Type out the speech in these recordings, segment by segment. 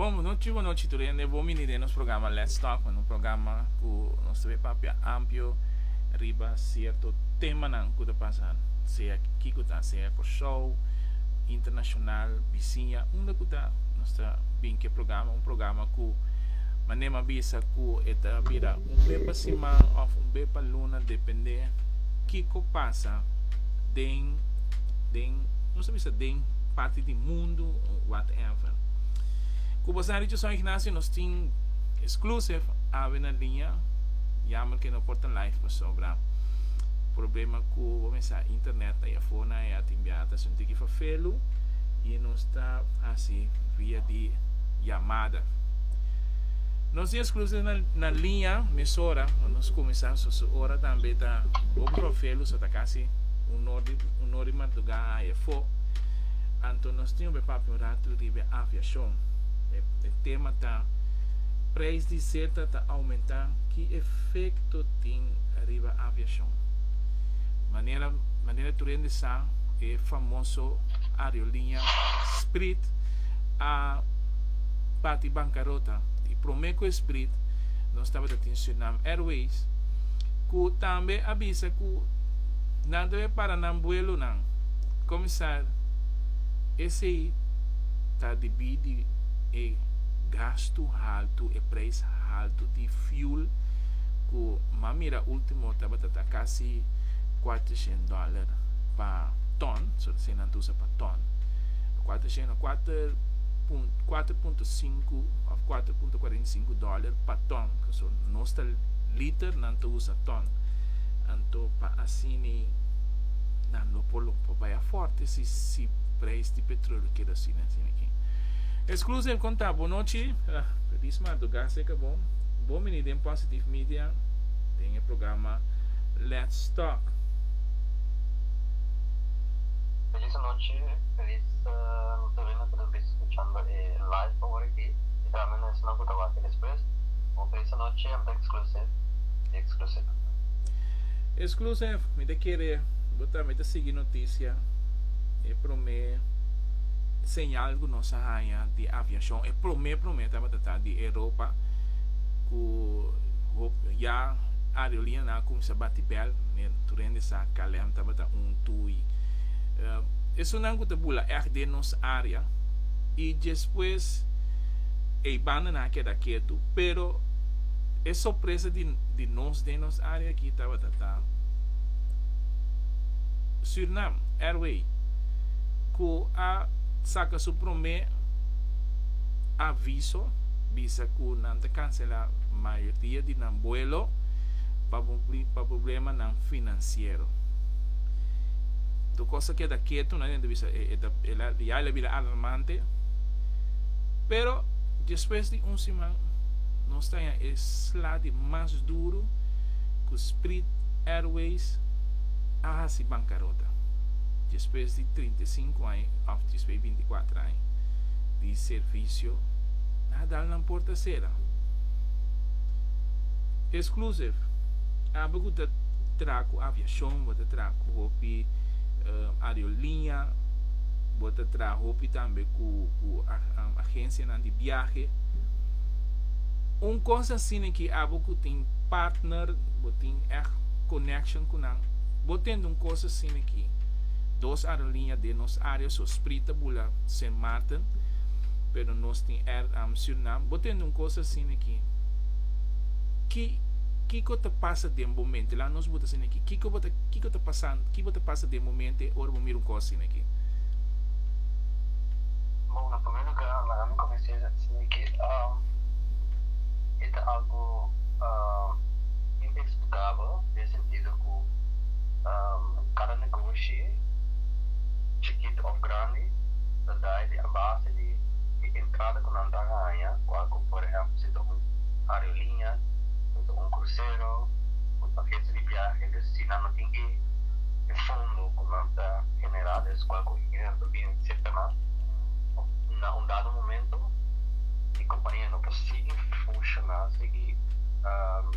Bon bo no chi bo no chito rende bo mini den nos programa Let's Talk man un programa ku nos ta bai papia ampio riba sierto temanan ku ta pasa sea kiko ta sea Kòrsou internashonal bisiña unda ku ta nos ta bin ku e programa un programa ku manera mi a bisa ku e ta bira un be pa siman òf un be pa luna dependé kiko pasa den den nos ta bisa den parti di mundu o whatever. Ku bo sa Richard San Ignacio nos tin exclusive awe na liña jammer ke no por ta live pasobra problema ku bo mesa internet ta ya for nan e a tin biaha ta haci un tiki fafelu i nos ta haci via di llamada. Nos di exclusies na na liña mesora cu nos cuminsa so su ora tambe ta Bob Rovello so ta casi un or di un or di madruga a haye fo anto nos tin hopi papia un rato riba e aviacion e e tema ta Prijs di zeta ta aumenta ki efecto tin riba aviacion manera manera tur hende sa e famoso aeroliña Sprit a. bati bankarota y prome cu e sbrit nos tabata tin Suriname Airways cu tambe a bisa cu nan tabata para nan buelonan comisar esey ta debi di e gastu haltu e prijs haltu di fuel cu m'a mira ultimo tabata ta casi cuatrocientos dollar pa ton so esey nan ta usa pa ton cuatrocientos cuater. kuater punto sinku òf kuater punto kuarenta i sinku dòler pa ton. So nos ta liter, nan ta usa ton. Anto pa asini nan lo por lo por bai afòrte si si preis di petroleo keda asina asina aki. Exclusive kon ta? Bonochi. Ah, Feliz madrugas'e ka bon. Bon bini den Positive Media, den e programa Let's Talk. Feliz anochi, feliz domingo. Nan ta bisi scuchando e live awor aki y tambe na esunnan cu ta wak despues. Bo presa nochi am ta exclusive y exclusive. Exclusive, mi ta kere bo tambe ta sigui noticia, e prome señal cu nos a haya di aviacion, e prome prome tabata ta di Europa cu hopi ya aerolineanan a cuminsa bati bel, ne tur hende sa KLM tabata un tui. Esunnan cu ta bula ect den nos area y despues ey bandanan a keda ketu, pero e sorpresa di nos den nos area aki tabata ta Suriname Airway cu a saca su prome aviso bisa cu nan ta cancela mayoria di nan buelo pa problemanan financiero. Tur cos ta keda ketu na dentro bisa e ta e la ya la bira alarmante pero despues di un siman nos ta haña e sla di mas duru cu Sprit Airways a haci bancarota despues di trinta i sinku aña of despues di binti kuater aña di servicio nan a dal nan por ta sera Exclusive aba cu ta tra cu aviacion bo ta tra. ku hopi aeroliña, bo ta traha hopi tambe ku ku agensianan di biahe. Un kos asina ki abo ku tin partner, bo tin ègt connection ku nan, bo tende un kos asina ki, dos aeroliña den nos área, so Spri ta bula Sint Maarten, pero nos tin Air Surinam, bo tende un kos asina ki, ki kiko ta pasa den bo mente? Laga nos buta asina ki. Kiko bo ta kiko ta pasando ki bo ta pasa den momente ora bo mira un cosa asina aki? Bon na primer lugar laga mi comencia diciendo que e ta algo inexplicabel den sentido cu cada negoshi chikito of grandi ta dai di abase di e entrada cu nan ta haña cual cu por ejemplo si ta un aerolínea si ta un crucero. Pakiensa di biahe des si nan no tin e e fondo ku nan ta generá des kual ku e dinero ta bini serka nan òf na un dado momento e kompania no por sigui funshoná sigui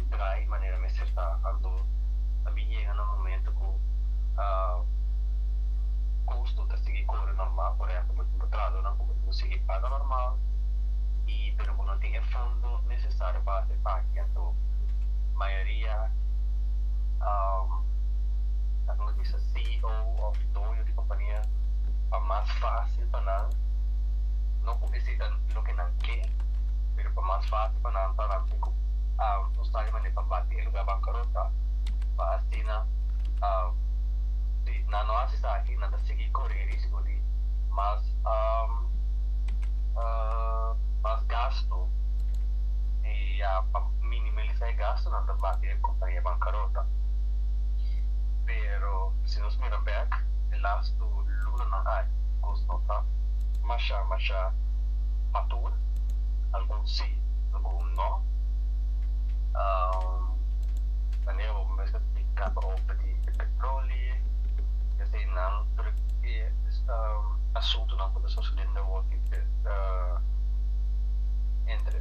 drai manera mester ta anto a bin yega na un momento ku kosto ta sigui kore normal por ehempel bo tin bo trahadónan ku bo tin ku sigui paga normal i pero bo no tin e fondo nesesario pa hasi e aki anto. mayoria ta kende bisa CEO of doño di kompania pa mas fásil pa nan no ku bisita loke nan ke pero pa mas fásil pa nan pa nan tin ku buska e manera pa bati e lugá bankarota pa asina si nan no hasi esaki nan ta sigui kore e risiko di mas gastu di. minimalisá e gastunan ta bati e kompania di bankarota. Pero si nos mira bèk e lastu lunanan ai, kos no ta mashá mashá matur, algun sí, algun no. Manera bo mester ta tika pa ope di e petroli, eseinan tur e asuntunan ku ta sosodendo awor entre.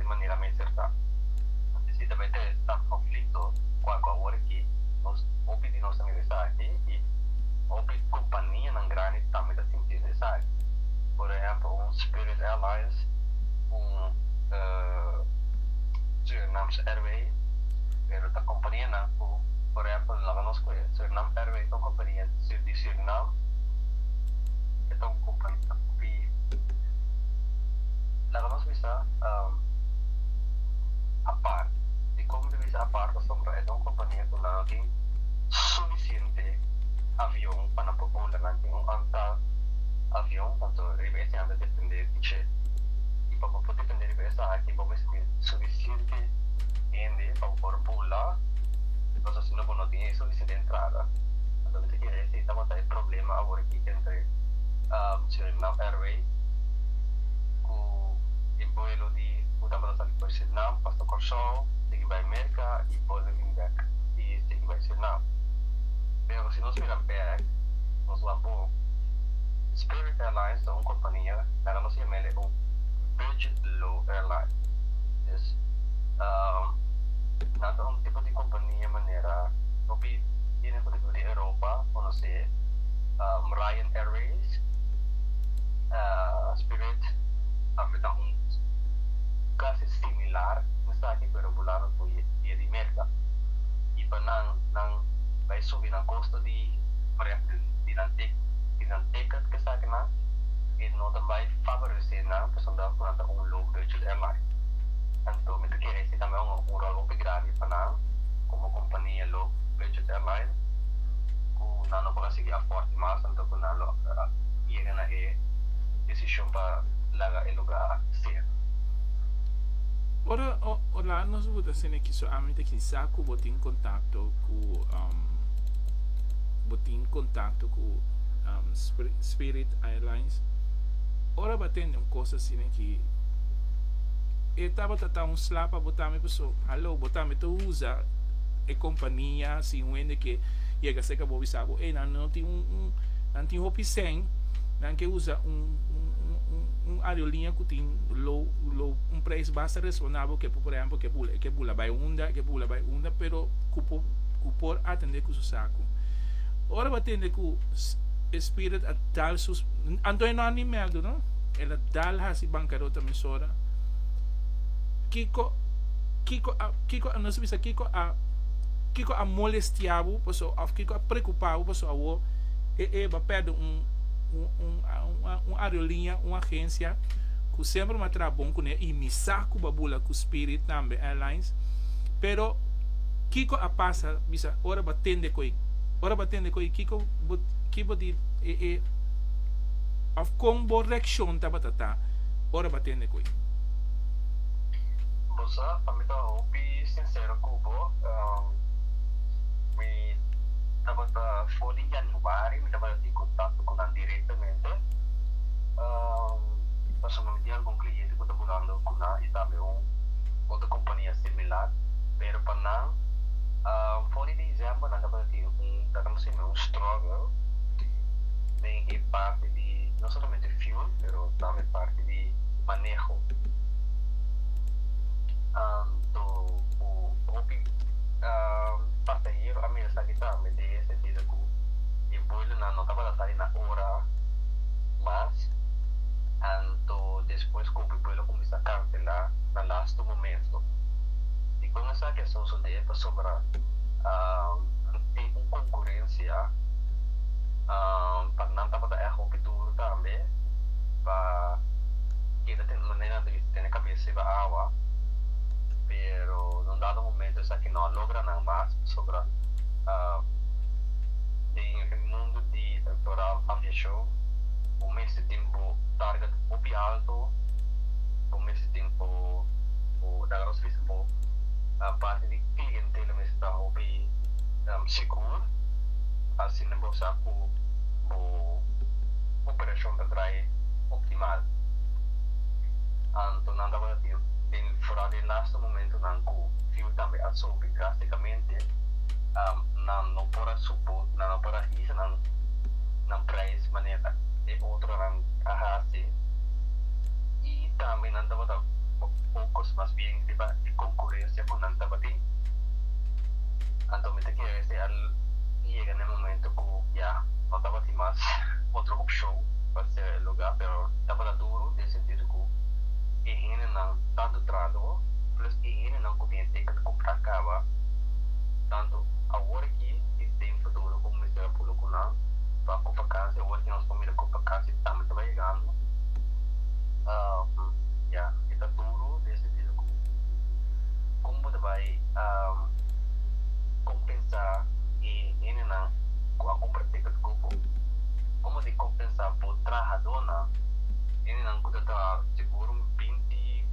di manera mester ta. Así si ta bay ta esnan konflikto ku a ku awor aki nos hopi di nos ta mira esaki i hopi kompanianan grandi tambe ta sintiendo esaki. Por ehèmpel un Spirit Airlines, un Surinams Airway pero ta kompanianan ku por ehèmpel laga nos ku e Surinam Airway ta un kompania di Surinam e ta un kompania hopi laga nos bisa. apart. E como ta bisa apart pasobra e ta un compania cu nan tin suficiente avion pa nan por bola. Nan tin un antal avion anto riba esey nan ta depende di dje. Y pa bo por depende riba esaki bo mes tin suficiente hende pa bo por bola pasobra si no bo no tin suficiente entrada. Anto mi ta kere esey ta wata e problema aworaki entre Suriname Airways cu. e buelo di ku tabata sali for Surinam pasa Kòrsou, sigui bai Merka i buelo bin bèk i sigui bai Surinam. Pero si nos mira bèk nos wak bo. Spirit Airlines ta un kompania mèra nos yama el e un budget low airline. Des nan ta un tipo di kompania manera hopi bini ku riba di Europa konosé Ryan Airways, Spirit. tambe ta un casi similar mensaki pero bo laga cu e e di Merca y pa nan nan bay subi nan costo di prep di nan tic di nan ticket cu esaki nan e no ta bay favorece nan pasobra cu nan ta un low budget airline anto mi ta kere esi tambe un un rol hopi grandi pa nan como compania low budget airline cu nan no por a sigui a forti mas anto cu nan lo yega na e disposishon pa laga e lugá sera. Ora Orlando nos bo ta sende kiso ami ta kinsa ku bo tin kontakto ku bo tin kontakto ku Spirit Airlines. Ora bo a tende un kos asina ki e tabata ta un sla pa bo tambe paso halo bo tambe ta usa e kompania sin wende ke yega serka bo bisa bo ey nan tin hopi sèn. Nan ke usa un aeroliña ku tin un preis basta resonabel ke por ehèmpel ke bula e ke bula bai unda e ke bula bai unda pero ku por ku por atende ku su saku ora bo a tende ku e spirit a dal su anto e no a ni mèdu no el a dal hasi bankarota mes ora kiko kiko a kiko a nos a bisa kiko a kiko a molestia bo pasobra òf kiko a preokupa bo pasobra awor e e bo a pèrdè un un aerolinia, un agencia cu semper m'a traha bon cu ne y mi sa cu bo a bula cu Spirit tambe Airlines. Pero kico a pasa bisa ora bo a tende cu ey? Ora bo a tende cu ey kico bo ki bo di e e of con bo reaccion tabata ta ora bo a tende cu ey? Bo sa pa mi ta hopi sincero cu bo, mi tabata for di yani. ku Mari, mi tabata tin kontakto ku nan direktamente, pasobra mi tin algun kliente ku ta mudando ku nan i tambe un otro kompania similar, pero pa nan for di diciember nan tabata tin un ta kende simi un struggle den e parti di no solamente fuel pero tambe parti di maneho anto ku hopi pasahero a mira esaki tambe. ku e boilernan no tabata sali na ora mas, anto despues ku e boiler kuminsá kanselá na lastu momento. Dikon esaki a sosodé pasobra tin un konkurensia pa nan tabata èg hopi duru tambe pa keda tende manera di tene kabes riba awa, pero na un dado momento esaki no a logra nan mas pasobra. den e mundo di electoral aviacion bo mester tin bo target hopi alto, bo mester tin bo laga nos bisa bo parti di clientela mester ta hopi segur, asina bo sa cu bo operacion ta draai optimal. Anto nan tabata tin den foral di e laste momentonan cu fiu tambe a sobi drasticamente. nan no por a subu, nan no por a hisa nan nan prijs manera e otronan a hasi i tambe nan tabata pokos, mas bien riba e konkurensia ku nan tabatin. Anto mi ta kere si a yega na e momento ku ya no tabatin mas otro opshon pa sera e lugá, pero tabata duru den sentido ku e hendenan tantu trado plus e hendenan ku tin e ticket ku ta kaba. tantu awor aki i den futuro ku mester a pulu ku nan pa ku vakansia awor ki nos familia ku vakansia tambe ta bai yegando ya e ta duru den sentido ku kon bo ta bai kompensa e hendenan ku a kumpra tiket ku bo kon bo tin kompensa bo trahadónan hendenan ku ta traha sigur un binti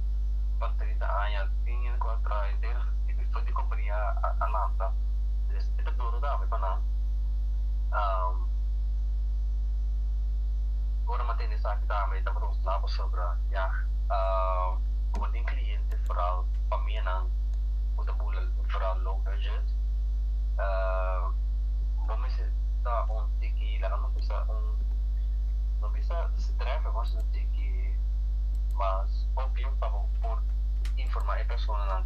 pa trenta aña tin hende ku a traha enter. e director di compania a lanta des e ta duro dame pa nan ora m'a tende esaki dame e tabata un sla pasobra yah como tin cliente foral pa mi nan cu ta bula mi foral low budget bo mester ta un tiki laga no bisa un no bisa strefe mas un tiki mas obvio pa bo por informa e personanan.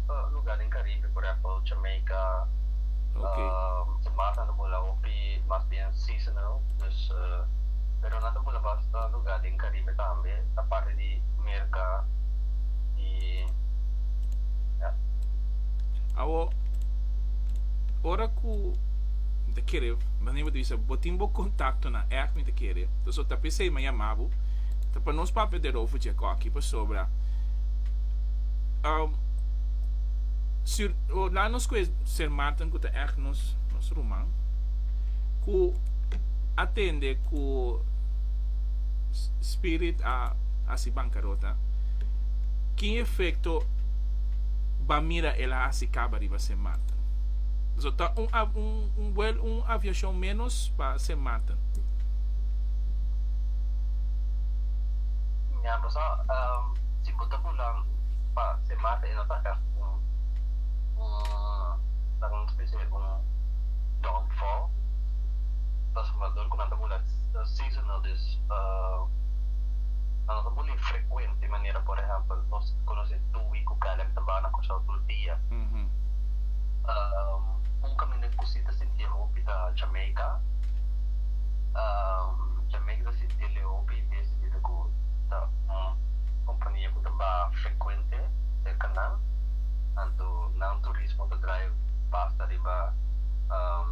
Luga den Caribe, por ehempel Jamaica, ta mas nan ta bula hopi mas bien seasonal, dus pero nan ta bula basta luga den Caribe tambe aparte di Merca y ya. Awo ora cu mi ta kere manera bo ta bisa bo tin bo contactonan echt mi ta kere ta so ta p'esey mi a yama bo ta pa nos papia di Rodolfo Jacoki pasobra. Um, si, oh, la nos cu ser Martin cu ta echt nos, nos ruman, cu atende cu spirit a hasi bancarota, ki efecto ba mira el a hasi caba riba Sint Maarten? Zo ta un, un, un vuel, un aviacion menos pa Sint Maarten. Ña, bo sa, um. si bo ta bunan pa se masa e no ta èf un laga nos ta is'e un downfall transformador ku nan ta bula seasonal dus nan no ta bul'e frekuente manera por ehèmpel nos konos'e Dewey ku Caleb ta bana kòrsou tur dia un kaminda ku si ta sinti'e hopi ta Jamaica Jamaica ta sinti'e hopi den sentido ku ta. kompania ku ta baha frekuente serka nan, anto nan turismo ta drai basta riba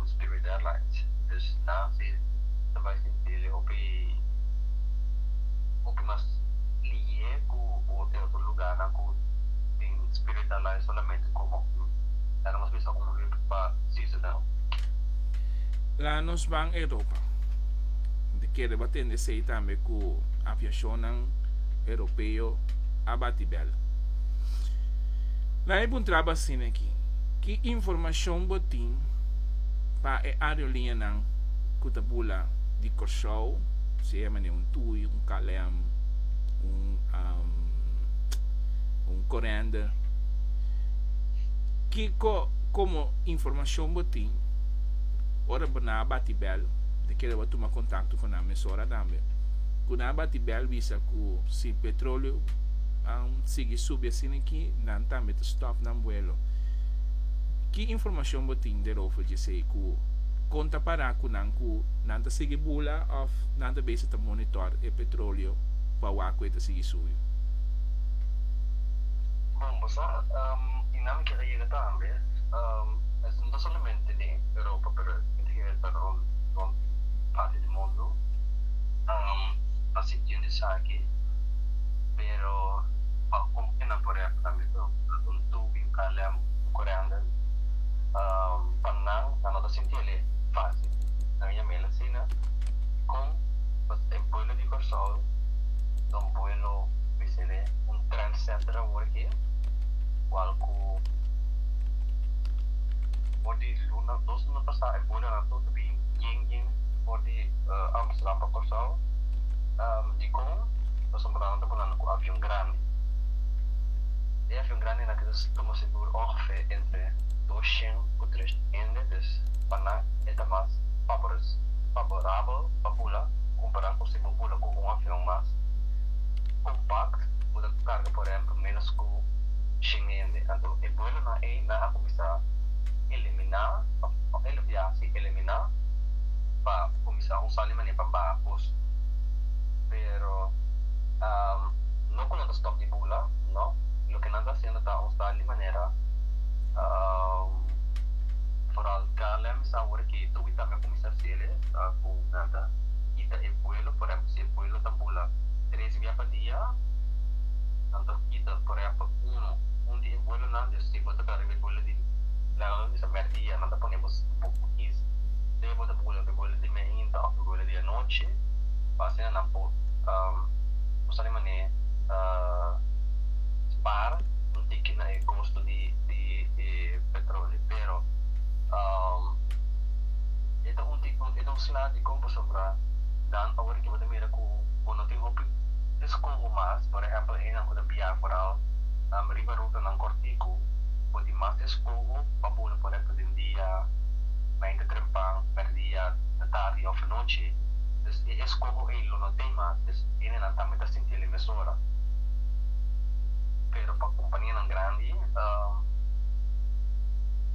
Spirit Airlines. Dus nan si ta bai sinti li hopi hopi mas liye ku e otro lugarnan ku tin Spirit Airlines solamente komo un dana mas mester un hub pa seasonal. La nos ban Europa. Tin kere bo atende esei tambe ku aviashonnan Europeo a bati bel. Nan e puntraba asina aki, Ki informashon bo tin pa e areoliñanan ku ta bula di Kòrsou, sea manera un tui, un KLM, un Corendon? Kiko komo informashon bo tin ora nan a bati bel, ta kere bo tuma kontakto ku nan mesora tambe. ku nan a bati bèl bisa ku si petroleo a sigui subi asina aki nan tambe ta stòp nan vuelo. Ki informashon bo tin derover djesei ku kon ta pará ku nan ku nan ta sigui bula òf nan ta bisa ta monitòr e petroleo pa wak ku e ta sigui subi? Bon, bo sa, i nan ke ta yega tambe, esto no ta solamente den Europa pero e ta yega ta rond di parti di mundu. Nan a sinti un esaki, pero pa hopi di nan por a kambia ta usa un tubi o ta lem un korendel. Pa nan, nan no ta sinti el e fásil. Nan yama el asina. Kon? Pasobra e buelo di Kòrsou ta un buelo, mi bisa el e un trendsetter awor aki, igual ku for di luna dos luna pasá e buelonan tur ta bin yen yen for di. Amsterdam pa Kòrsou, dikon nos a mudá, nos ta bunanda ku avion grandi. E avion grandi nan keda tuma segur ongefè entre dos shen ku tres shen hende, dus pa nan e ta mas faborabel pa bula kompará ku si bo bula ku un avion mas kompakt ku ta karga por ehèmpel ménos ku shen hende. Anto e buelonan ei nan a kuminsá eliminá òf el a biaha si eliminá. pa kuminsá usá li manera pa baha kos. Pero no ku nan ta stòp di bula, no. Loke nan ta hasiendo ta usá li manera foral KLM sa awor ke Tui tambe a kuminsá hasiel es, ku nan ta kita e vuelo, por ehèmpel si e vuelo ta bula tres bia pa dia, nan ta kita por ehèmpel uno, un di e vuelonan, dja segundo ta riba e vuelo di lègado di mèr dia, nan ta pone bo bo kiss. Sea bo ta por wele bo wele di miahinta of bo wele di anochi, pa asina nan por bo sabi manera spara un tiki na e kosto di e petroleo. Pero e ta un tipo e ta un sina di kon pasobra ta dan ora ki bo ta mira ku bo no tin hopi eskoho mas. Por ehèmpel enan ku ta bia foral riba rutanan kòrtiku bo tin mas eskoho pa bo lo pone ta den dia. mainta trempan, mèrdia, ta tardi òf anochi, dus e eskoho ei lo no tin mas, dus hendenan tambe ta sinti el e mesora. Pero pa kompanianan grandi,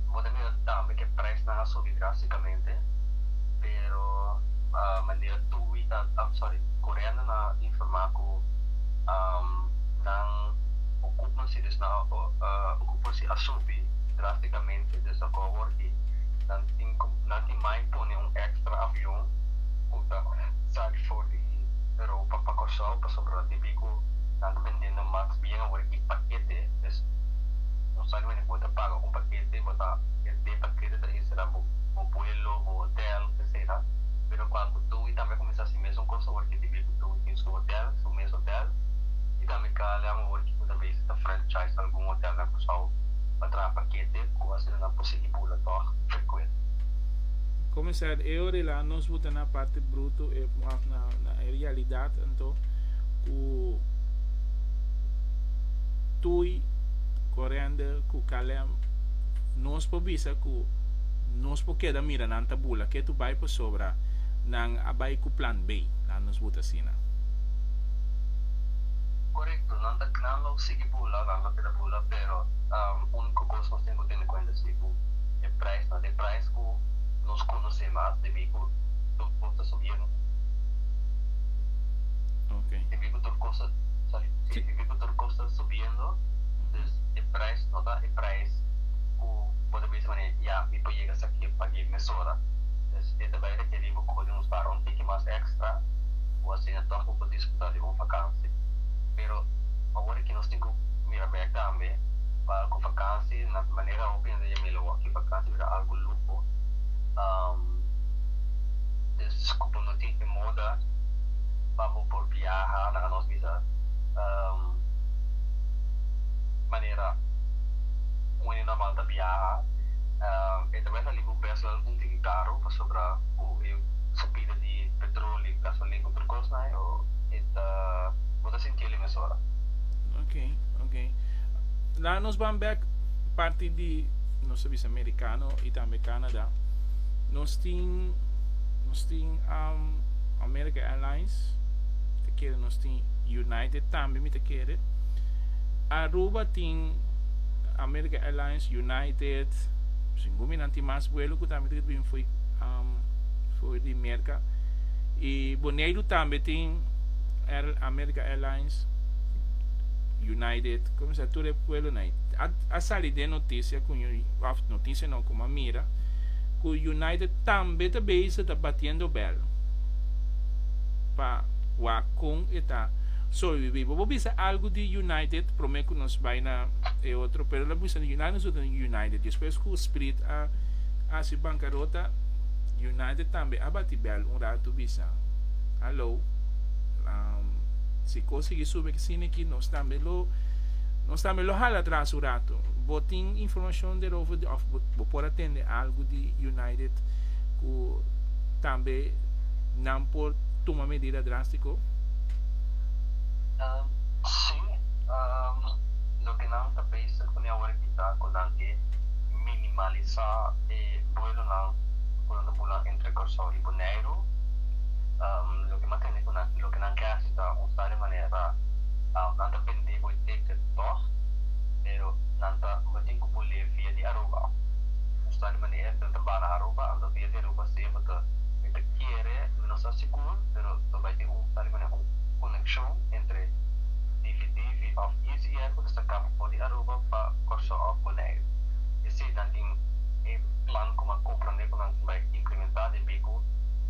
bo ta mira tambe ku e prèsnan a subi drástikamente, pero manera Tui ta, sòri, Correando ta informá ku nan okupmansi, dus nan okupmansi a subi drástikamente. e desakó wòrd di nan tin ku nan tin mai pone un èkstra avion ku ta sali for di Europa pa Kòrsou pasobra nan tin biku nan ta bendendo maks bien awor i pakete es un saki mende ku bo ta paga un pakete bo ta e den pakete ta insera bo bo buelo bo hotel etcetera pero kual ku Tui tambe a kuminsá si mesun kos awor ki tin biku Tui tin su hotel su mes hotel i tambe Kalian awor ki ku ta bisa ta franchise algun hotel na Kòrsou. pa traha pakete ku asina nan por sigui bula tòg frekuente. Komisaris, e ora el a nos buta na parti bruto, e pon af na e realidat anto ku Tui, Corender ku Calem nos por bisa ku nos por keda mira nan ta bula ke tur bai pasobra nan a bai ku plan B, nan nos buta asina. Korekto, nan ta nan lo sigui bula, nan lo keda. Hola pero unico cos nos tin cu tene cuenta si cu e prijs na den prijs cu nos conoce mas debí cu tur cos ta subí eno debí cu tur cos ta sorry si debí cu tur cos ta subiendo dus e prijs no ta e prijs cu bo ta bisa manera ya mi por yega esaki e pagué mesora dus e ta bay rekerí bo cu bo tin cu spara un tiki mas extra cu asina toch bo por disfruta di un vakantie pero awor. ki nos tin ku mira bek tambe pa ku vakansi na manera hopi hende dje mira awor ki vakansi bira algu luho des ku bo no tin e moda pa bo por biaha nan a nos bisa manera un hende normal ta biaha e ta bai sali ku presionan algun tin di karu pasobra ku e subida di petroli gasolin ku otro kosnan e ta bo ta sintiel. mesora. Ok, ok. La nos van back parti di nos bisa americano y tambe Canada. Nos tin nos tin um, America Airlines, te kere nos tin United tambe mi te kere. Aruba tin America Airlines, United, sin gumi nan tin mas vuelo ku tambe te bin foi um, foi di Merca. Y Boneiru tambe tin Air America America Airlines, United, cuminsa tur e vuelonan ei. A a sali den noticia cu un, of noticia no, como a mira, cu United tambe ta bezig ta batiendo bel pa wak con e ta sobrevivi. Bo bo bisa algo di United prome cu nos bay na e otro, pero lo bisa di United nosotros tin United. Despues cu Spirit a a haci bancarota, United tambe a bati bel un rato bisa. Hallo. Um, si kos sigui sube ki sini ki, nos tambe lo, nos tambe lo hala atras un rato. Bo tin informashon derover, di, of bo, bo por atende algu di United ku tambe nan por tuma medida drástiko? Um, sí. Um, loke nan ta pensa kuni awor aki ta ku nan ke minimalisá e buelonan ku nan ta bula entre Kòrsou i Boneiru. Loke m'a tende ku nan, loke nan ke hasi ta usa de manera, nan ta bendí bo e tekte tòg, pero nan ta bo tin ku bo lei via di Aruba, usa de manera nan ta bana Aruba, anto via di Aruba si e bo ta e ta kere, mi no sa sigur, pero ta bai tin un sa de manera un konekshon entre Divi Divi òf Easy Air ku ta saka bo for di Aruba pa Kòrsou òf Boneiru. Esei nan tin e plan ku m'a komprondé ku nan bai implimentá den Bibu.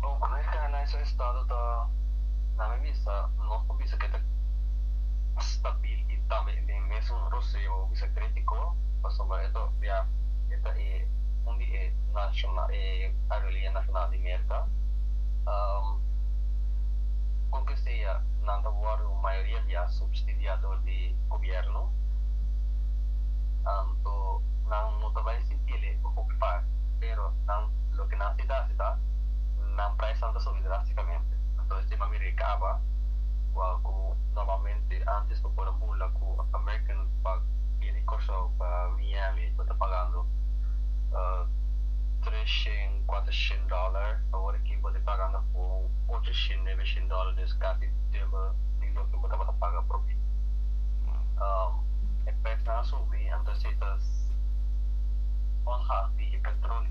Bo Great Carolines e estado ta na mi bista nos por bisa ke ta stabil i tambe e den mesun roseo bo bisa kritiko pasobra e ta opiá e ta e un di e nashonal e aerolinia nashonal di Merka. Kon ke sea nan ta wòrdu mayoria bia supstidiá dor di gobièrnu anto nan no ta bai sintiele hopi part pero nan. Loke nan tin ta hasi ta nan praisnan ta subi drástikamente. Anto e tema miri kaba kua ku normalmente ántes bo por a bula ku American pa bini di Kòrsou pa Miami bo ta pagando tres shen, kuater shen dòler, awor aki bo ta pagando apo un ocho shen, nebe shen dòler, dus kasi dubel di loke bo tabata paga por mi. E praisnan a subi, anto esei ta onhahpi e petróleo.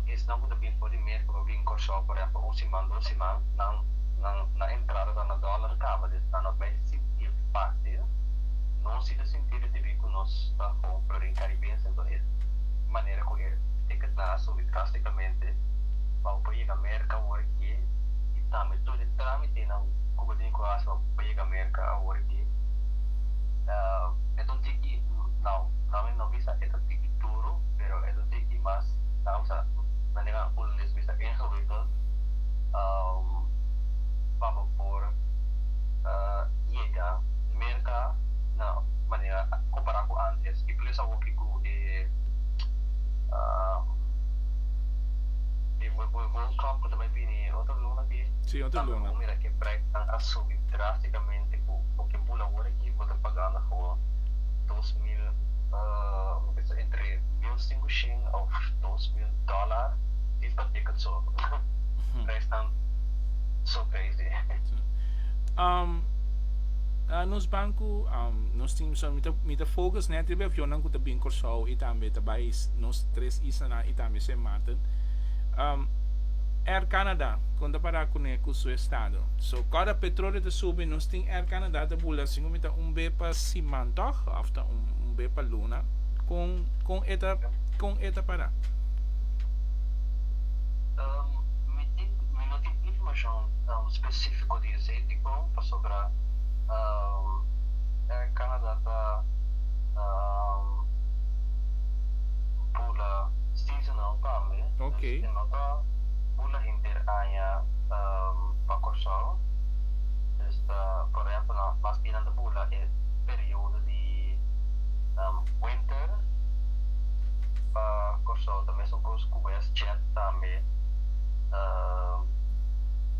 Esnan ku ta bin for di mes ku no bin Kòrsou, por ehèmpel un siman, dos siman, nan nan na entrada ta na dòlar kaba di esnan. Nos bai sinti'l fásil. Nos sí ta sinti'l debí ku nos ta hou Florin Caribense. Anto es manera ku e tiketnan a subi drástikamente pa bo por yega Merka awor aki i tambe tur e trámitenan ku bo tin ku hasi pa bo por yega Merka awor aki. Eto un tiki, nau, no mi no bisa ku e ta tiki duru, pero es un tiki mas. Daarom sa nan den holandés bisa ingewikkeld pa bo por yega mer ka na manera kompará ku antes i plus awor ke ku e World Cup ku ta bai bini otro luna aki ta bo por mira ke preisnan a subi drástikamente ku bo ke bula awor aki bo ta pagando for dos mil mi bisa entre mil sinku. een of dos mil dollar di pa ticket so prijsnan so crazy. Um, na nos banco um, nos tin mi, mi, ta, mi ta focus net riba avionnan cu ta bin Corsou y tambe ta bay nos tres islanan y tambe Sint Maarten. Um, Air Canada con ta para cune cu su estado. So cada petrolio ta subi nos tin Air Canada ta bula así como mi ta un be pa siman toch of ta un, un be pa luna con Con e ta con e ta para? Um, mi tin, mi no tin informacion, um, specifico di esey dicon, pasobra, um, Air Canada ta, um, bula seasonal tambe, Ok. dus e no ta bula henter aña, um, pa Corsou, dus ta, por ehempel, nan, mas bien nan ta bula e periodo di. winter pa Kòrsou ta mesun kos ku WestJet tambe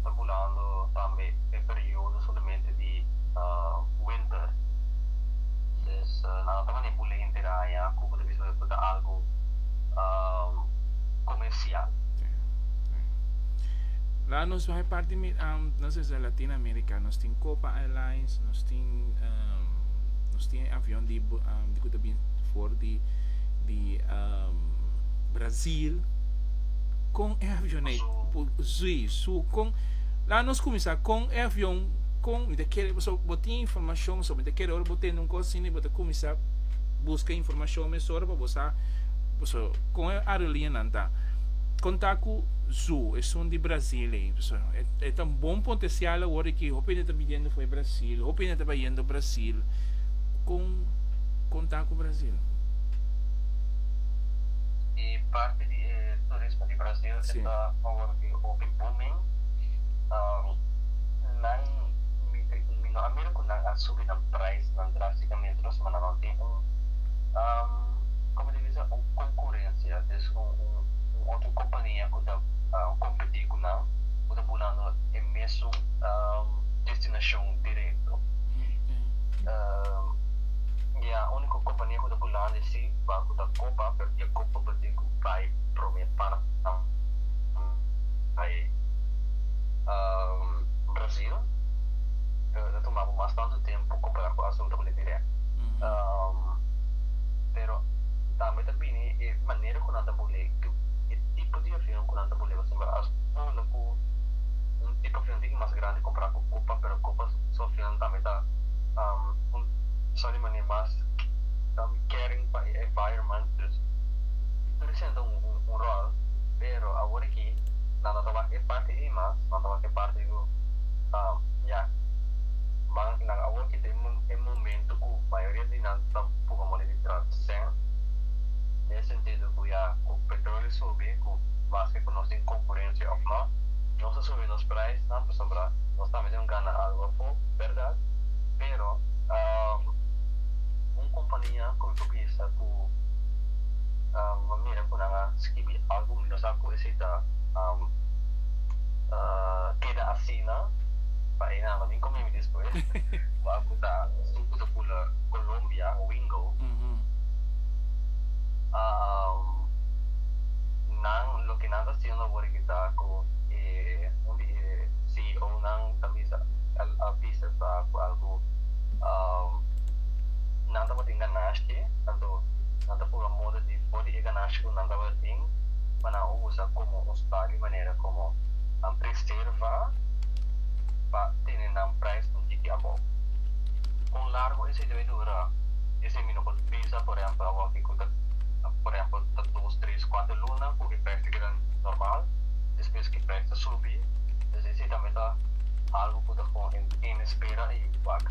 ta bulando tambe e periodo solamente di winter. Entonces nan a tuma ne bule henter haña ku bo ta bisa ku ta algu komersial. Nan nos bai parti nan nos tin Latin America nos tin Copa Airlines nos tin. Nos tin e avion di ku ta bin for di di Brazil kon e avion ei por zui su kon la nos kuminsá kon e avion kon mi ta kere pasobra bo tin informashon so mi ta kere ora bo tende un kos asina bo ta kuminsá buska informashon mesora pa bo sa pasobra kon e aerolineanan ta kon ta ku zu esun di Brazil ei pasobra e ta un bon potensial awor di ki hopi hende ta biniendo for di Brazil hopi hende ta bayendo. Brasil con con ta cu Brasil. E parti di e turismo di Brasil e ta awor di hopi booming. Nan mi no a mira cu nan a subi nan prijsnan drasticamente los mandanan tin un como di bisa un concurencia es un otro compania cu ta competi cu nan cu ta bunando e mesun destinacion directo. Dia unico compania cu ta bulando e si ba cu ta Copa pero dia Copa bo tin cu bay prome para bay Brasil pero ta tuma bo mas tanto tempo compara cu Azul ta cu lebe direct pero tambe ta bini e manera cu nan ta bule e tipo di avion cu nan ta bule pasobra Azul cu un tipo avion tin cu mas grandi compara cu Copa pero Copa Sofian tambe ta un persona di manera mas caring pa e environment dus e presenta un rol pero awor aki nan ta toma e parti ei mas nan ta wak e parti ku ya man y nan awor aki ta e momento ku mayoria di nan ta puga moli di transicion den e sentido ku ya ku petroleo subi ku maske ku nos tin konkurensia of no nos ta subi nos price nan pasobra nos tambe Yon gana algo apo, berdad, pero un kompania ku mi por bisa ku mi mira ku nan a skibi algo mi no sa ku esei ta keda asina pa e nada. Mi komo mi despues wak a kuta esun ku ta bula Colombia, Wingo. Nan loke nan ta hasiendo awor aki ta ku e un di e. si onan ta bisa a bisa sa ku algu nan tabatin ganashi anto nan ta por a moda di for di e ganashi ku nan tabatin pa nan usa komo un stabia manera komo nan preserva pa tene nan prijs un tiki abou. Kon largu esei debe dura? Esei mi no por bisa por ehempel a wapi ku ta por ehempel ta dos tres kuater luna ku e prijs ta keda normal despues ku e prijs ta subi. Esei tambe ta algu ku ta pon en tene spera i yuku bak.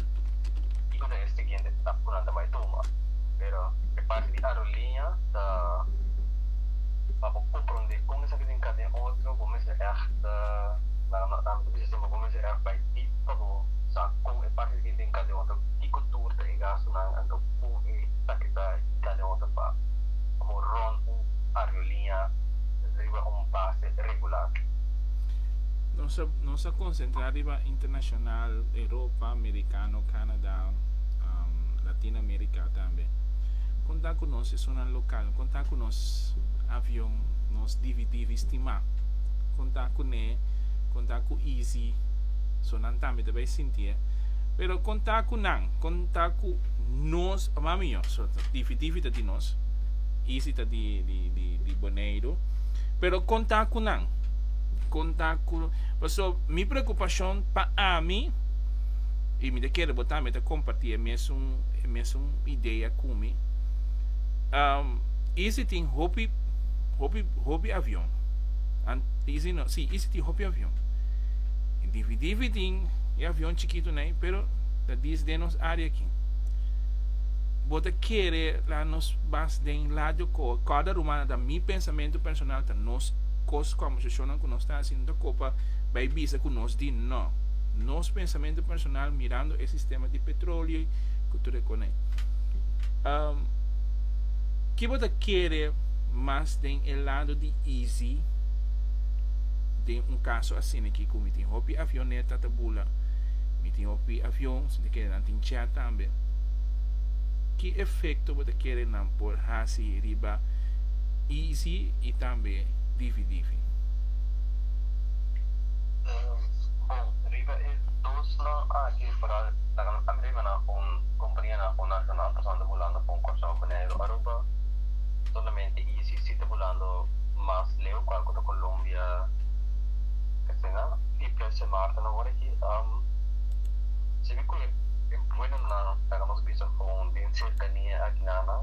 Kiko ta e siguiente etap ku nan ta bai tuma? Pero e parti di aeroliña ta pa bo komprondé kon esaki tin ka den otro, bo mester èg ta, nan a mi ta bisa siempre, bo mester èg bai dip pa bo sa kon e parti di tin ka den otro, kiko tur ta e gastu nan, anto kon esaki ta tin ka den otro pa bo ròn un aeroliña riba un base regular. Nos a, nos a concentra riba internacional, Europa, Americano, Canada, um, Latin America tambe. Conta cu nos es una local, conta cu nos avion, nos DVD ristima, conta cu ne, conta cu easy, so nan tambe ta bay sintie. Eh. Pero conta cu nan, conta cu nos, ma mijo, so, DVD ta di nos, easy ta di, di, di, di Boneiro. Pero kon ta ku nan? Kon ta ku Paso mi preokupashon pa ami, i mi ta kere bo tambe ta kompartí e mesun e mesun idea ku mi. Isi tin hopi hopi hopi avion an isi no si isi tin hopi avion i difi difi tin e avion chikitu nei pero ta dis den nos área aki. Bo ta kere la nos bas den Ladjokó kòrda rumana ta mi pens. Pensamentu personal ta nos kos kòmbersashonnan ku nos ta hasi no ta kopa bai bisa ku nos di nò. Nos pensamentu personal mirando e sistema di petrolio ku tur e konai. Um, Ke bo ta kere mas den e lado di easy den un kaso asina aki ku mi tin hopi avioneta ta bula, mi tin hopi avion, si ta kere nan tin chat tambe? Ki efekto bo ta kere nan por hasi riba EEC y tambe difi difi. Bon, riba e dosnan aki por a laga a mira na un companianan cu nacional pasobra bulando pa un Curaçao, Bonaire o Aruba. Solamente EEC si ta bulando mas leu cual cu ta Colombia asina. Y pres e marca nan hoor aki sibi cu e buenamnan laga nos bisa con den cercania aki na nan.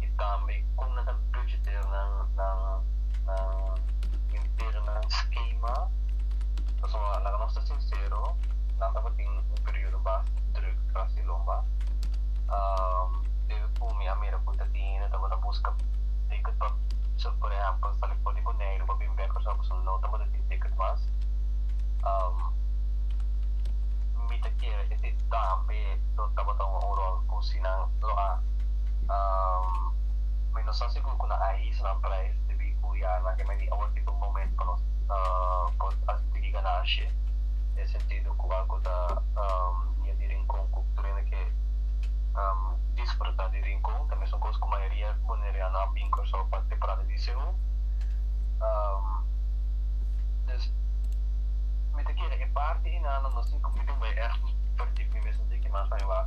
y tambe con nan ta budgeter nan interna schema, pasobra laga nos ta sincero nan tabatin un periodo bas druk tras di lomba, debe cu mi a mira cu ta tin hende tabata busca ticket pa por ehempel sali for di Boneiru pa bin bek Curaçao pasobra no tabata tin ticket mas, mi ta kere esey tambe lo tabata un rol cu si nan lo a. Mi no sa sigur cu nan a his nan prijs debi cu ya nan kende di awor tin bo moment pa nos por haci tigi ganashi den sentido cu algo ta bier di Rincon cu tur hende ke disfruta di Rincon ta mesun cos cu mayoria Boneriano a bin Curaçao pa temporada di Seo dus mi ta kere e parti hinano mi tin bay echt verdif mi mesun tin kimas nan e wak.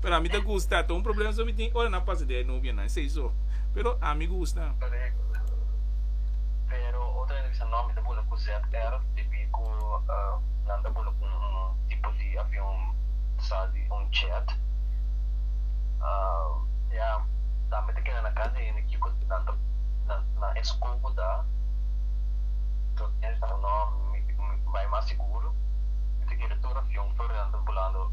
Pero ami ta gusta, ta un problema so mi tin ora nan pasa di e novianan esei so, pero ami gusta. Correcto. Pero otro hende bisa no mi ta bula cu ZR dpi cu nan ta bula cu un tipo di avion sa di un jet. Ya tambe ta keda na casa di hende kico nan ta nan escobo ta. So otro hende bisa no mi bai mas seguro mi ta keda tur avion for di nan ta bulando.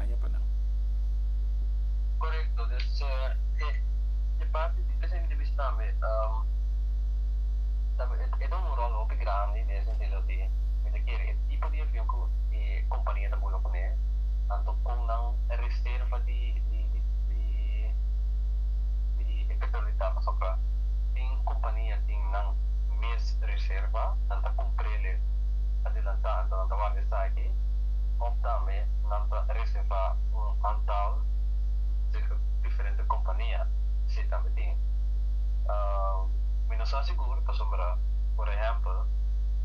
daño pa nan. Korekto, dus e parti di Pesa Individuis tambe e ta un ròl hopi grandi den e sentido di mi ta kere e tipo di avion ku e kompania ta bula kuné, anto kon nan reserva di e petrol di tapa pasobra tin kompania tin nan mes reserva, nan ta kumpr'e adelantá anto nan ta warda esaki òf tambe. nan ta reserva un antal di diferente kompania, si tambe tin. Mi no sa sigur pasobra, por ehèmpel,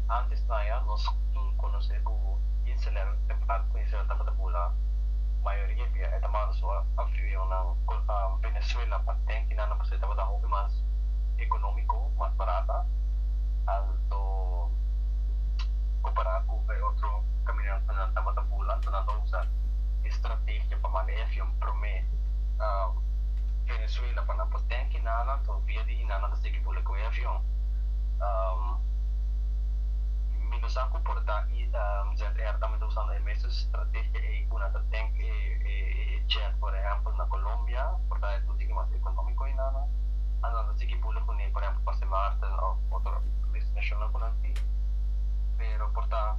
ántes naja nos tur konosé ku Inselèn en parti ku Israel tabata bula, mayoria bia e ta manda su avionnan Venezuela pa den di nan pasobra e tabata hopi mas ekonómiko, mas barata, alto, kompará ku e otro. caminantenan tabata bula, ta nan ta usa e strategia pa manda e avion prome na Venezuela pa nan por tenke nannan to via di nan nan ta sigui bula cu e avion. Mi no sa cu por ta EZR tambe ta usando e mesun strategia ey cu nan ta tenk e jet por ehempel na Colombia por ta e ruta mas economico di nannan anto nan ta sigui bula cune por ehempel pa Sint Maarten of otro destinacionnan cu nan tin pero por ta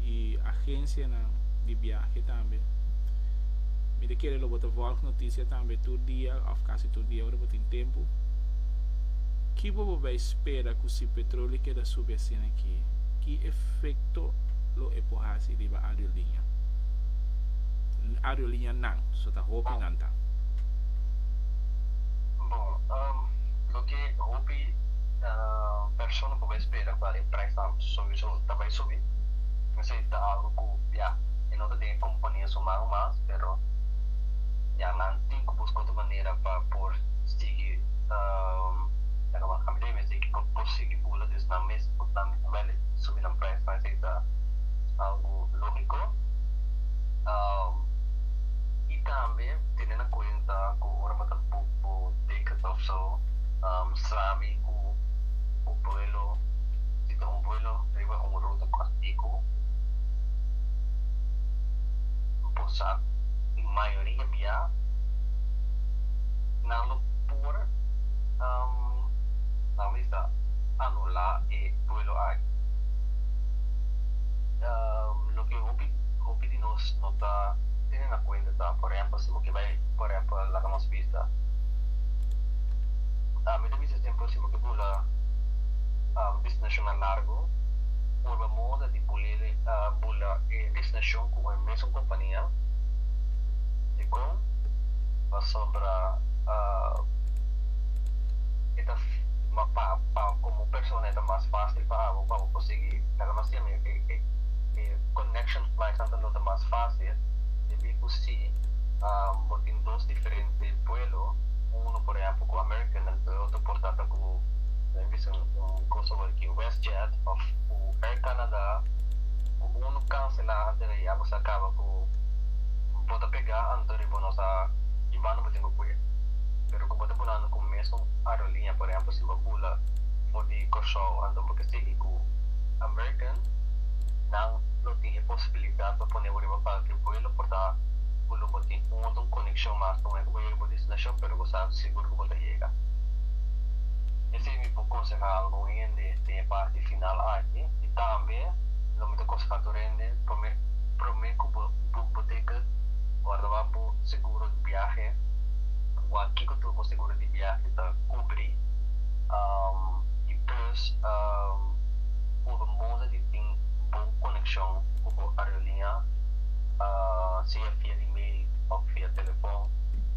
y agencianan di viaje tambe. Mi ta kere lo bo ta volg noticia tambe tur dia of casi tur dia ora bo tin tempo. Ki bo bo bay spera cu si petroleo keda subi asina aki? Ki efecto lo e por haci riba aerolinia? Aerolinianan, so ta hopi nan ta. Bon, loke hopi persona por bay spera pa e prijsnan ta subi. So, ta bai subi. Esei ta algu ku ya, e no ta den e kompania su man mas, pero ya nan tin ku buska otro manera pa por sigui, ami ta bai mesei pa por sigui bula des nan mes, ot nan wèlè subi nan prijs, ma esei ta algu lógiko. I tambe tene na kuenta ku ora bo ta book bo tickets of so, sami ku bo buelo. i ta un vuelo riba un ruta kòrtiku, bo sa mayoria bia nan lo por nan bisa anulá e vuelo aki. Loke hopi hopi di nos no ta tene na kuenta ta por ehèmpel si bo ke bai por ehèmpel laga nos bisa mi ta bisa sempel si bo ke bula. bisnashonnan largu purba moda di bulele a bula e bisnashon ku un mesun kompania. Dikon? Pasobra e ta pa komo persona e ta mas fásil pa abo pa bo konsiguí laga mas tiempo e konekshon flais anto no ta mas fásil debí ku si bo tin dos diferente buelo uno por ehèmpel ku American nan otro por ta ta ku. Nan bisa un cosa awor aki, WestJet of cu Air Canada cu uno cancela antes de ya bo sa caba cu bo ta pega anto de bo no sa ki banda bo tin cu cue. Pero cu bo ta bunando cu mesmo aerolínea, por ehemplo si bo bula for di Curaçao anto bo ke sigui cu American, nan lo tin e posibilidad pa pone bo riba cualkier vuelo por ta cu lo bo tin un otro conexion mas. Te moment cu bo yega bo destinacion pero bo sa sigur cu bo ta yega. Esei mi por konsehá algun hende den e parti final aki. I tambe lo mi ta konsehá tur hende, promé promé ku bo bo bo teka guarda bo seguro di biahe, wak kiko tur bo seguro di biahe ta kubri. I plus por bo moza di tin bon konekshon ku bo areoliña, sea via email òf via telefòn,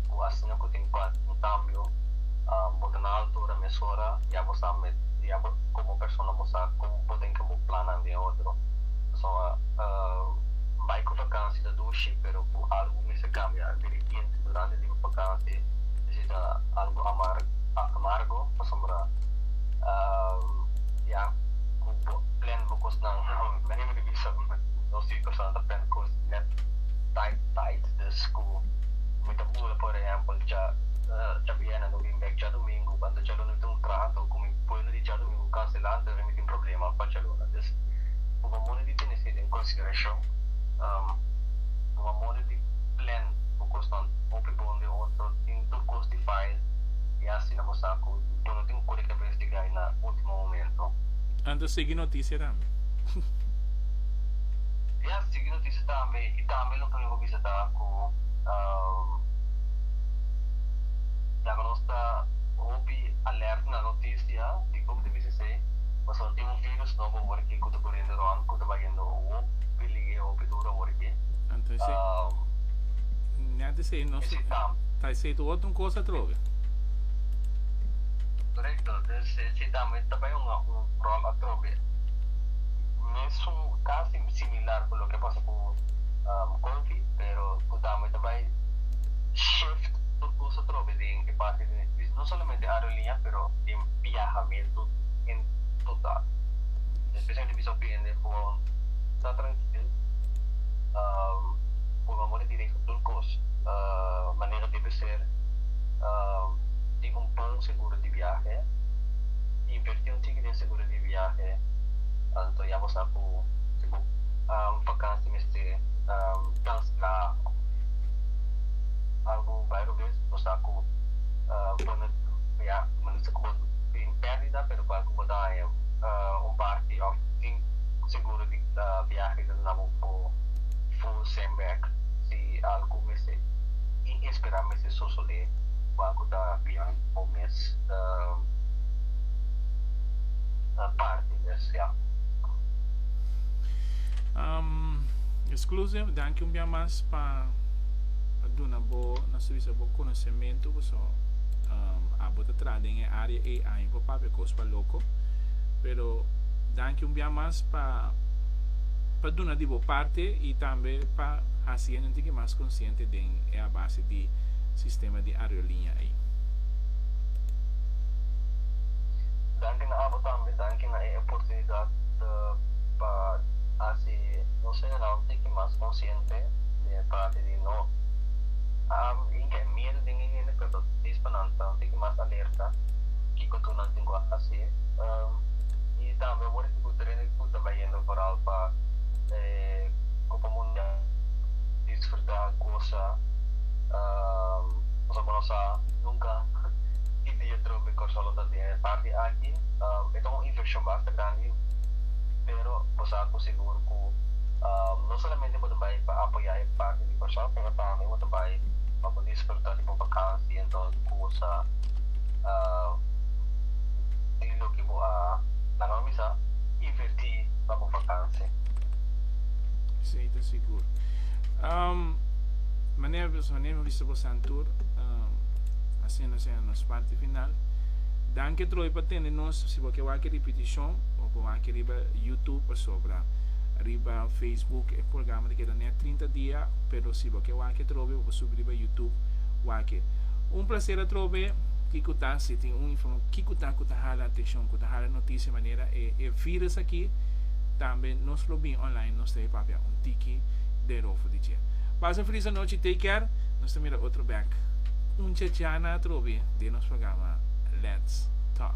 ku asina ku tin kualke un kambio. Bo ta na altura mesora, ya bo sa met, ya bo komo persona bo sa kon bo den ke bo plannan den otro. Pasobra bai ku vakansi ta dushi, pero ku algu mester kambia derepente durante di vakansi esei ta algu amar amargo pasobra ya ku bo plèn bo kosnan nan e mester bisa nos e persona ta plèn kos nèt tait tait, dus ku mi ta bula por ehèmpel cha. Dja biene lo bin bek djadumingu banda djaluna tin un trato ku mi pueblo di djadumingu kanselá anto ora mi tin problema pa djaluna entonces bo mamone di tene esei den konsiderashon bo mamone di plan bo kosnan hopi bon den otro tin tur kos di file i asina bo sa ku bo no tin kore kebes di gai na ultimo momento. Anto sigui notisia tambe. Ya sigui notisia tambe i tambe lo pone bo bisa ta ku. Laga nos ta hopi alert na notisia di Covid diesesei pasobra tin un virus nobo aworiki ku ta kuriendo rònt ku ta bayendo hopi liga i hopi duru aworiki. Korekto, dus esei tambe ta bai un ròl atrobe, mesun kasi similar ku loke a pasa ku Covid pero ku tambe ta bai. shift tur cosa trobe den e parti di nos bis, no solamente aeroliña pero den biahamentu en total. Especialmente mi sorprende cu awor no ta trankil, cu lo amor di Direi ta tur cos manera debe ser, tin un bon seguro di biahe, inverti un tiki den seguro di biahe, anto ya bo sa cu si bo vakantie mester cancela. Algu bairro bes bo sa cu bo no ya bo dici cu bo tin perdida pero cual cu bo ta haña un parti of tin seguro di biahe ta duna bo bo full send back si algu mester inespera mester sosode cual cu ta beyond bo mes parti bes ya. Exclusive danki un bia mas pa duna bo na su bisa bo conocementu cu so abo ta traha den e area ey año pa papia cos pa loco pero danki un bia mas pa pa duna di bo parte y tambe pa haci e nuntinke mas consciente den e a base di sistema di areoliña ey. Danki na abo tambe danki na e oportunidad pa haci. nos general tiki mas konsiente di e parti di no a hinka e miedu den e hende pero ta dispa nan ta tiki mas alerta kiko tur nan tin ku hasi i tambe awor ku ta rende ku ta bayendo vooral pa e copa mundial disfruta gosa nos tabata sa nunka ki dia troke Kòrsou lo ta den e parti aki e ta un invershon basta grandi. pero bo sa cu sigur cu no solamente bo ta bay pa apoya e parti di Kòrsou, pero tambe bo ta bay pa bo disfruta di bo bakansi en tur di cosa di loke bo a normaliza y inverti pa bo bakansi. Esey ta sigur. Manera nos a nega vista bo san tur, asina nos a yega nos parti final. Danki troy pa tende nos. Si bo ke wak e ripitishon. Bo con aki riba YouTube pasobra riba Facebook e programa ta keda net trinta dia, pero si bo ke wak atrobe bo por subi riba YouTube wake. Un placer atrobe, kico ta si tin un inform kico ta cu ta hala atencion cu ta hala noticia manera e e virus aki tambe nos lo bin online nos ta e papia un tiki den rofo di dje. Pasa un feliz anochi take care nos ta mira otro bek un chachana atrobe den nos programa Let's talk.